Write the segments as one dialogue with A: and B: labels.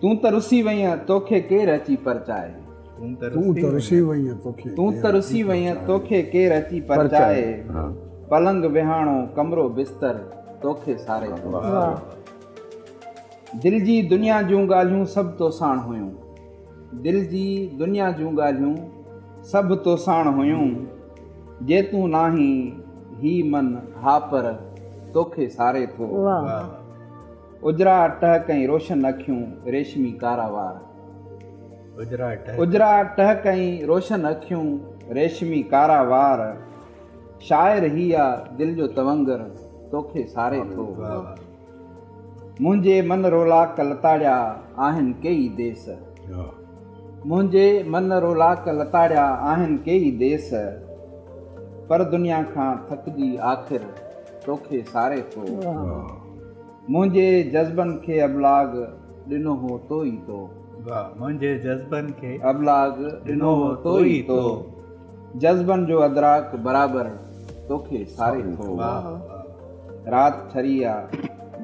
A: تون ته رسي وئينء توکي ڪير اچي پرچائي.
B: تون ته رسي وئينء توکي.
A: تون ته رسي وئينء توکي ڪير اچي پرچائي. پلنگ وهاڻو ڪمرو بستر توکي ساري ٿو. دل جي دنيا جون ڳالهيون سڀ توساڻ هيون. دل جي دنيا جون ڳالهيون سڀ توساڻ هيون. جي تون ناهين هي من ها پر توکي ساري ٿو. اجرا ٽهڪ ۽ روشن اکيون، ريشمي ڪارا وار. اجرا ٽهڪ ۽ روشن اکيون، ريشمي ڪارا وار. شاعر هي آ دل جو تونگر، توکي ساري ٿو. منهنجي من رولاڪ لتاڙيا، آهن ڪيئي ديس. منهنجي من رولاڪ لتاڙيا، آهن ڪيئي ديس. پر دنيا کان ٿڪجي آخر، توکي ساري ٿو. منهنجي جذبن کي ابلاغ ڏنو هو تو ئي تو. واهه منهنجي
C: جذبن کي ابلاغ ڏنو
A: هو تو ئي تو. جذبن جو ادراڪ برابر توکي ساري ٿو. واهه واهه رات ٺري آ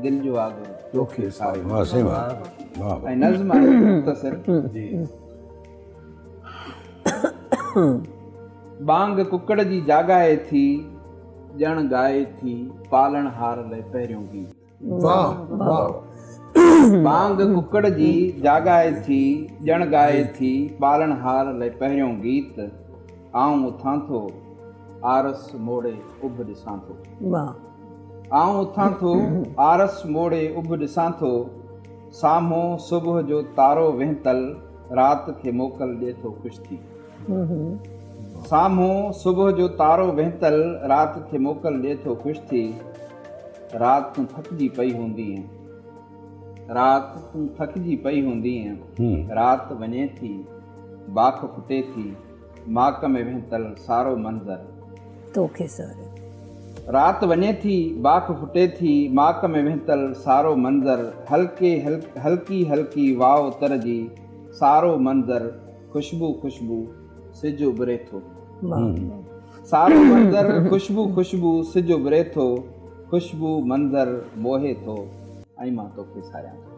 A: دل جو آڳر توکي ساري ٿو. واهه سائين واهه واهه واهه. ۽ نظم آهي مختصر جي. ٻانگ ڪڪڙ جي جاڳائي ٿي. ڄڻ ڳائي ٿي پالڻهار لئه پهريون گيت. واهه واهه. بانگ ڪڪڙ جي جاڳائي ٿي ڄڻ ڳائي ٿي پالڻهار لئه پهريون گيت. آئون اٿان ٿو آرس موڙي اڀ ڏسان ٿو. آئون اٿان ٿو آرس موڙي اڀ ڏسان ٿو. سامهون صبح جو تارو وهنتل رات کي موڪل ڏئي ٿو خوش ٿي. سامهون صبح جو تارو وهنتل رات کي موڪل ڏي ٿو خوش ٿي رات تون ٿڪجي پئي هوندينء رات تون ٿڪجي پئي هوندينء رات وڃي ٿي باک ڦٽي ٿي ماڪ ۾ وهنتل سارو منظر توکي
D: ساري رات
A: وڃي ٿي باک ڦٽي ٿي ماڪ ۾ وهنتل سارو منظر هلڪي هلڪي هلڪي واء تر جي سارو منظر خوشبو خوشبو سج اڀري ٿو. سارو منظر خوشبو خوشبو سج اڀري ٿو خوشبو منظر موهي ٿو ۽ مان توکي ساهيان ٿو.